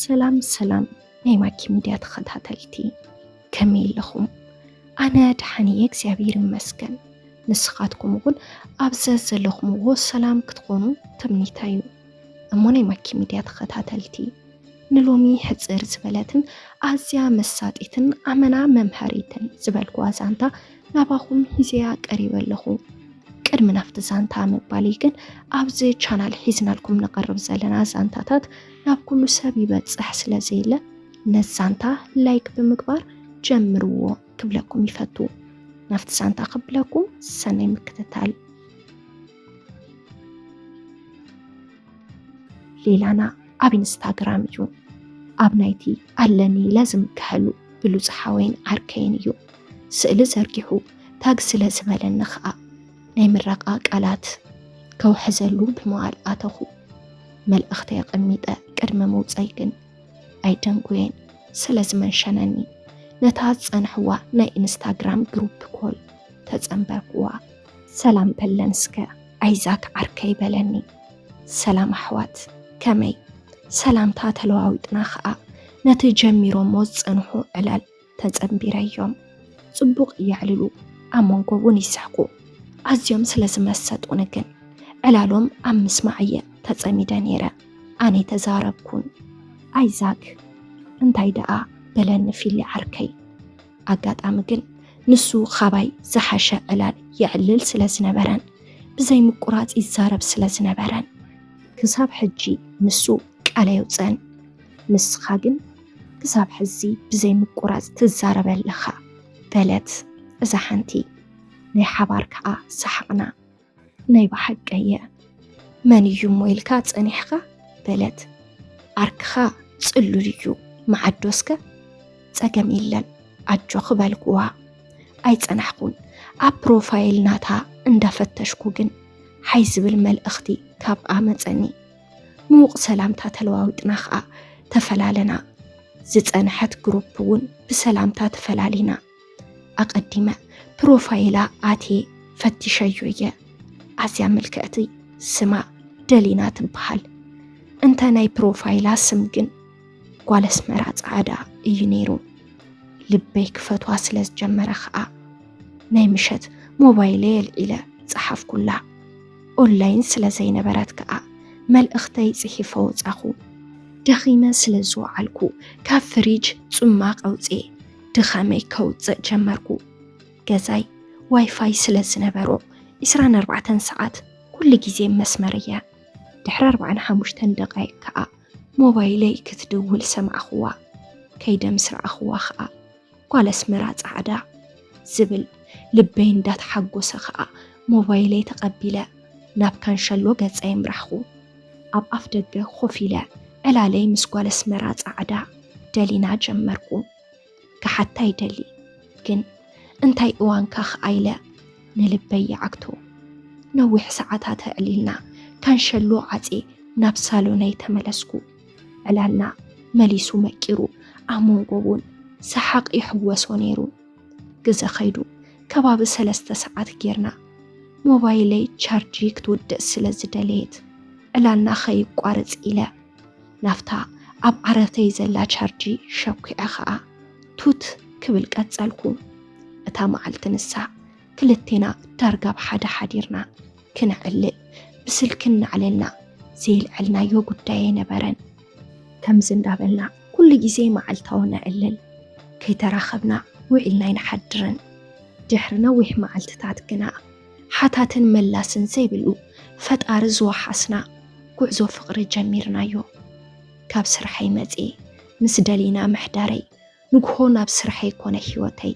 ሰላም ሰላም ናይ ማኪ ሚድያ ተኸታተልቲ ከመይ ኣለኹም? ኣነ ደሓን እየ እግዚኣብሔር ይመስገን። ንስኻትኩም እውን ኣብ ዘለኹምዎ ሰላም ክትኾኑ ትምኒታ እዩ። እሞ ናይ ማኪ ሚድያ ተኸታተልቲ ንሎሚ ሕፅር ዝበለትን ኣዝያ መሳጢትን ኣመና መምሃሪትን ዝበልኩዋ ዛንታ ናባኹም ሂዘያ ቀሪበ ኣለኹ። ቅድሚ ናፍቲ ዛንታ ምባልይ ግን ኣብዚ ቻናል ሒዝናልኩም ንቐርብ ዘለና ዛንታታት ናብ ኩሉ ሰብ ይበፅሕ ስለ ዘየለ ነዚ ዛንታ ላይክ ብምግባር ጀምርዎ ክብለኩም ይፈቱ። ናፍቲ ዛንታ ክብለኩም ሰናይ ምክትታል ሌላና ኣብ ኢንስታግራም እዩ ኣብ ናይቲ ኣለኒ ለዝም ክሕሉ ብሉፅ ሓወይን ዓርከይን እዩ ስእሊ ዘርጊሑ ታግ ስለ ዝበለኒ ከዓ ናይ ምረቃ ቃላት ከውሕዘሉ ብምባል ኣተኹ መልእኽተ የቐሚጠ ቅድሚ ምውፀይ ግን ኣይደንጉየን ስለ ዝመንሸነኒ ነታ ዝፀንሕዋ ናይ ኢንስታግራም ግሩፕ ኮል ተፀንበርኩዋ ሰላም በለን እስከ ኣይዛክ ዓርከይ በለኒ። ሰላም ኣሕዋት ከመይ ሰላምታ ተለዋዊጥና ኸኣ ነቲ ጀሚሮሞ ዝጸንሑ ዕላል ተጸንቢረዮም። ጽቡቕ የዕልሉ ኣብ መንጎ እውን ይስሕቁ። ኣዝዮም ስለ ዝመሰጡኒ ግን ዕላሎም ኣብ ምስማዕ እየ ተጸሚደ ነይረ። ኣነ ተዛረብኩን። ኣይዛክ እንታይ ደኣ በለኒ ፊሊ ዓርከይ። ኣጋጣሚ ግን ንሱ ኻባይ ዝሓሸ ዕላል የዕልል ስለ ዝነበረን ብዘይ ምቁራፅ ይዛረብ ስለ ዝነበረን ክሳብ ሕጂ ንሱ ቃል ኣየውፅእን። ንስኻ ግን ክሳብ ሕዚ ብዘይ ምቁራፅ ትዛረበ ኣለኻ በለት እዛ ሓንቲ። ናይ ሓባር ከዓ ሰሓቕና። ናይ ብሓቀየ መን እዩ እሞ ኢልካ ጸኒሕኻ በለት ዓርክኻ ጽሉል እዩ መዓዶስከ ጸገም የለን ኣጆኺ በልኩዋ ኣይጸናሕኩን ኣብ ፕሮፋይል ናታ እንዳፈተሽኩ ግን ሓይ ዝብል መልእኽቲ ካብኣ መጸኒ ምውቕ ሰላምታ ተለዋዊጥና ኸዓ ተፈላለና ዝጸንሐት ግሩፕ እውን ብሰላምታ ተፈላሊና ኣቐዲመ ፕሮፋይላ ኣትየ ፈቲሸዮ እየ ኣዝያ ምልክዕቲ ስማ ደሊና ትበሃል እንተ ናይ ፕሮፋይላ ስም ግን ጓል ኣስመራ ጻዕዳ እዩ ነይሩ ልበይ ክፈትዋ ስለ ዝጀመረ ኸኣ ናይ ምሸት ሞባይለይ ኣልዒለ ጸሓፍኩላ ኦንላይን ስለ ዘይነበረት ከኣ መልእኽተይ ጽሒፈ ወጻኹ። ደኺመ ስለ ዝወዓልኩ ካብ ፍሪጅ ጽማቕ ኣውጽኤ ድኻመይ ከውፅእ ጀመርኩ። ገዛይ ዋይፋይ ስለ ዝነበሮ ዕስራን ኣርባዕተን ሰዓት ኩሉ ግዜ መስመር እያ። ድሕሪ ኣርባዕን ሓሙሽተን ደቃይቅ ከዓ ሞባይለይ ክትድውል ሰማዕኽዋ። ከይደ ምስ ረኣኽዋ ከዓ ጓል ኣስመራ ፃዕዳ ዝብል ልበይ እንዳተሓጎሰ ከዓ ሞባይለይ ተቐቢለ ናብ ካንሸሎ ገፀይ ኣምራሕኹ። ኣብ ኣፍ ደገ ኮፍ ኢለ ዕላለይ ምስ ጓል ኣስመራ ጻዕዳ ደሊና ጀመርኩ። ክሓታ ይደሊ ግን እንታይ እዋንካ ከኣ ኢለ ንልበይ ይዓግቶ። ነዊሕ ሰዓታት ኣዕሊልና ካንሸሎ ዓጽየ ናብ ሳሎነይ ተመለስኩ። ዕላልና መሊሱ መቂሩ ኣብ መንጎ እውን ሰሓቕ ይሕወሶ ነይሩ። ግዘ ከይዱ ከባቢ ሰለስተ ሰዓት ጌርና ሞባይለይ ቻርጂ ክትውድእ ስለ ዝደለየት ዕላልና ከይቋረፅ ኢለ ናፍታ ኣብ ዓረተይ ዘላ ቻርጂ ሸኩዐ ከዓ ቱት ክብል ቀፀልኩ። እታ መዓልቲ ንሳ ክልቴና ዳርጋ ብሓደ ሓዲርና ክነዕልል ብስልኪ እናዕለልና ዘይልዐልናዮ ጉዳይ ኣይነበረን። ከምዚ እንዳበልና ኩሉ ግዜ መዓልታዊ ነዕልል፣ ከይተራኸብና ውዒልና ኣይንሓድርን። ድሕሪ ነዊሕ መዓልትታት ግና ሓታትን መላስን ዘይብሉ ፈጣሪ ዝወሓስና ጉዕዞ ፍቕሪ ጀሚርናዮ። ካብ ስርሐይ መጺኤ ምስ ደሊና ምሕዳረይ፣ ንግሆ ናብ ስርሐይ ኮነ ህይወተይ።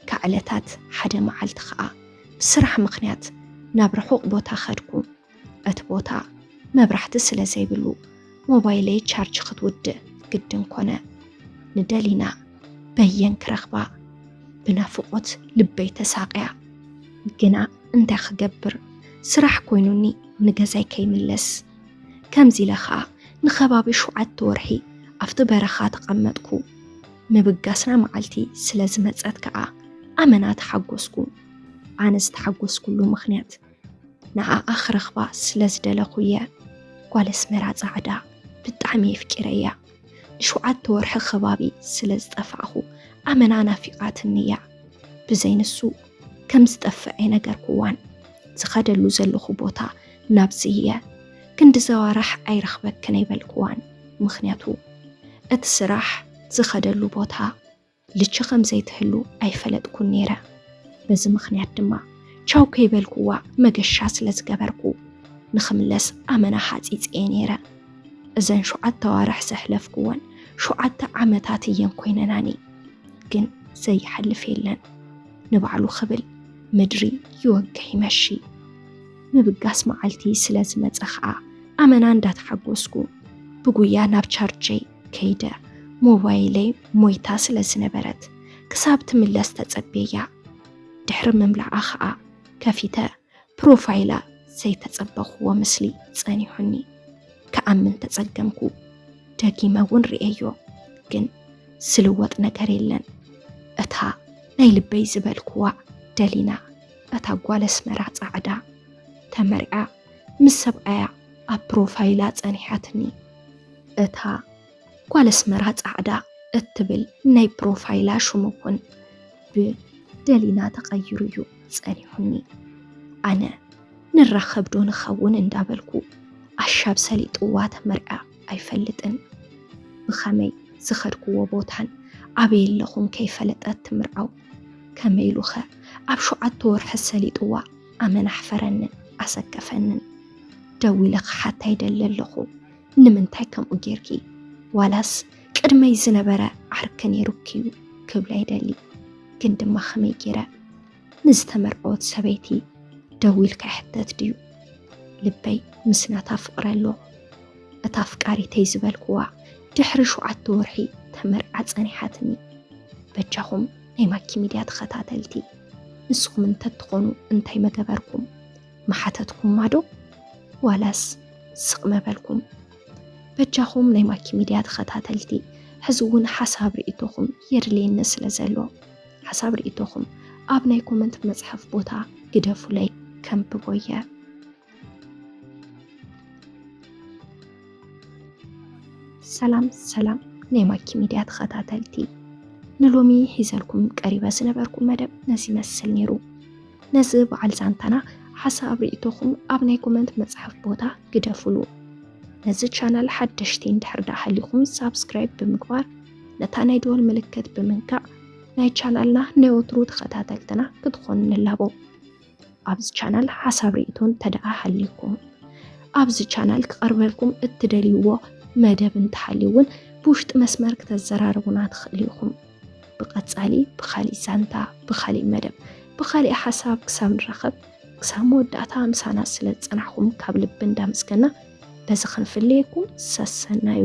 ካብ ዕለታት ሓደ መዓልቲ ከኣ ብስራሕ ምኽንያት ናብ ርሑቕ ቦታ ከድኩ። እቲ ቦታ መብራህቲ ስለ ዘይብሉ ሞባይለይ ቻርጅ ክትውድእ ግድን ኮነ። ንደሊና በየን ክረኽባ ብናፍቖት ልበይ ተሳቕያ። ግና እንታይ ክገብር ስራሕ ኮይኑኒ ንገዛይ ከይምለስ። ከምዚ ኢለ ኸኣ ንኸባቢ ሸውዓተ ወርሒ ኣብቲ በረኻ ተቐመጥኩ። ምብጋስና መዓልቲ ስለ ዝመጸት ከኣ ኣመና ተሓጎስኩ። ኣነ ዝተሓጎስኩሉ ምኽንያት ንዓኣ ክረኽባ ስለ ዝደለኹ እየ ጓል ኣስመራ ጻዕዳ ብጣዕሚ የፍቂረያ ንሸውዓተ ወርሒ ከባቢ ስለ ዝጠፋዕኹ ኣመና ናፊቓትኒ እያ ብዘይ ንሱ ከም ዝጠፍዕ ኣይነገርኩዋን ዝኸደሉ ዘለኹ ቦታ ናብዚ እየ ክንዲ ዘዋራሕ ኣይረኽበክን ኣይበልኩዋን ምኽንያቱ እቲ ስራሕ ዝኸደሉ ቦታ ልቺ ከም ዘይትህሉ ኣይፈለጥኩን ነይረ። በዚ ምኽንያት ድማ ቻው ከይበልኩዋ መገሻ ስለ ዝገበርኩ ንኽምለስ ኣመና ሓፂፀየ ነይረ። እዘን ሸውዓተ ኣዋርሕ ዘሕለፍኩወን ሸውዓተ ዓመታት እየን ኮይነናኒ። ግን ዘይሓልፍ የለን ንባዕሉ ክብል ምድሪ ይወግሕ ይመሺ ምብጋስ መዓልቲ ስለ ዝመፀ ከዓ ኣመና እንዳተሓጎስኩ ብጉያ ናብ ቸርቸይ ከይደ ሞባይለይ ሞይታ ስለ ዝነበረት ክሳብ ትምለስ ተጸብየያ ድሕሪ ምምላኣ ኸኣ ከፊተ ፕሮፋይላ ዘይተጸበኽዎ ምስሊ ጸኒሑኒ ክኣምን ተጸገምኩ። ደጊመ እውን ርእየዮ ግን ዝልወጥ ነገር የለን። እታ ናይ ልበይ ዝበልክዋ ደሊና እታ ጓል ኣስመራ ጻዕዳ ተመርዓ ምስ ሰብኣያ ኣብ ፕሮፋይላ ጸኒሓትኒ። እታ ጓል ኣስመራ ጻዕዳ እትብል ናይ ፕሮፋይላ ሽሙ እውን ብ ደሊና ተቐይሩ እዩ ጸኒሑኒ። ኣነ ንራኸብ ዶ ንኸውን እንዳበልኩ ኣሻብ ሰሊጥዋ ተመርዕያ ኣይፈልጥን። ብኸመይ ዝኸድክዎ ቦታን ኣበይ ኣለኹን ከይፈለጠት ትምርዓው። ከመይ ኢሉኸ ኣብ ሸውዓተ ወርሒ ሰሊጥዋ ኣመን ኣሕፈረንን ኣሰከፈንን ደው ኢለ ክሓታ ይደሊ ኣለኹ ንምንታይ ከምኡ ጌርኪ ዋላስ ቅድመይ ዝነበረ ዓርኪ ነይሩኪዩ ክብላ ይደሊ ግን ድማ ከመይ ጌረ ንዝተመርዐወት ሰበይቲ ደው ኢልካ ይሕተት ድዩ ልበይ ምስናታ ፍቕረ ኣሎ እታ ፍቃሪተይ ዝበልክዋ ድሕሪ ሸውዓተ ወርሒ ተመርዓ ጸኒሓትኒ በጃኹም ናይ ማኪ ሚድያ ተኸታተልቲ ንስኹም እንተትኾኑ እንታይ መገበርኩም መሓተትኩም ማዶ ዋላስ ስቕ መበልኩም በጃኹም ናይ ማኪ ሚድያ ተኸታተልቲ ሕዚ እውን ሓሳብ ርእቶኹም የድልየኒ ስለ ዘሎ ሓሳብ ርእቶኹም ኣብ ናይ ኮመንት መፅሐፍ ቦታ ግደፉለይ ከምብቦ እየ ሰላም ሰላም ናይ ማኪ ሚድያ ተኸታተልቲ ንሎሚ ሒዘልኩም ቀሪበ ዝነበርኩ መደብ ነዚ ይመስል ነይሩ። ነዚ በዓል ዛንታና ሓሳብ ርእቶኹም ኣብ ናይ ኮመንት መፅሓፍ ቦታ ግደፉሉ። ነዚ ቻናል ሓደሽቲ እንድሕር ዳ ሃሊኹም ሳብስክራይብ ብምግባር ነታ ናይ ደወል ምልክት ብምንካዕ ናይ ቻናልና ናይ ወትሩ ተኸታተልትና ክትኾኑ ንላቦ። ኣብዚ ቻናል ሓሳብ ርእቶ እንተደኣ ሃልዩኩም ኣብዚ ቻናል ክቐርበልኩም እትደልይዎ መደብ እንተሃልዩ እውን ብውሽጢ መስመር ክተዘራርቡና ትኽእሉ ኢኹም። ብቐጻሊ ብኻሊእ ዛንታ፣ ብኻሊእ መደብ፣ ብኻሊእ ሓሳብ ክሳብ ንራኸብ ክሳብ መወዳእታ ምሳና ስለ ዝጸናሕኹም ካብ ልቢ እንዳመስገና በዚ ክንፍለየኩም ሰሰናዩ።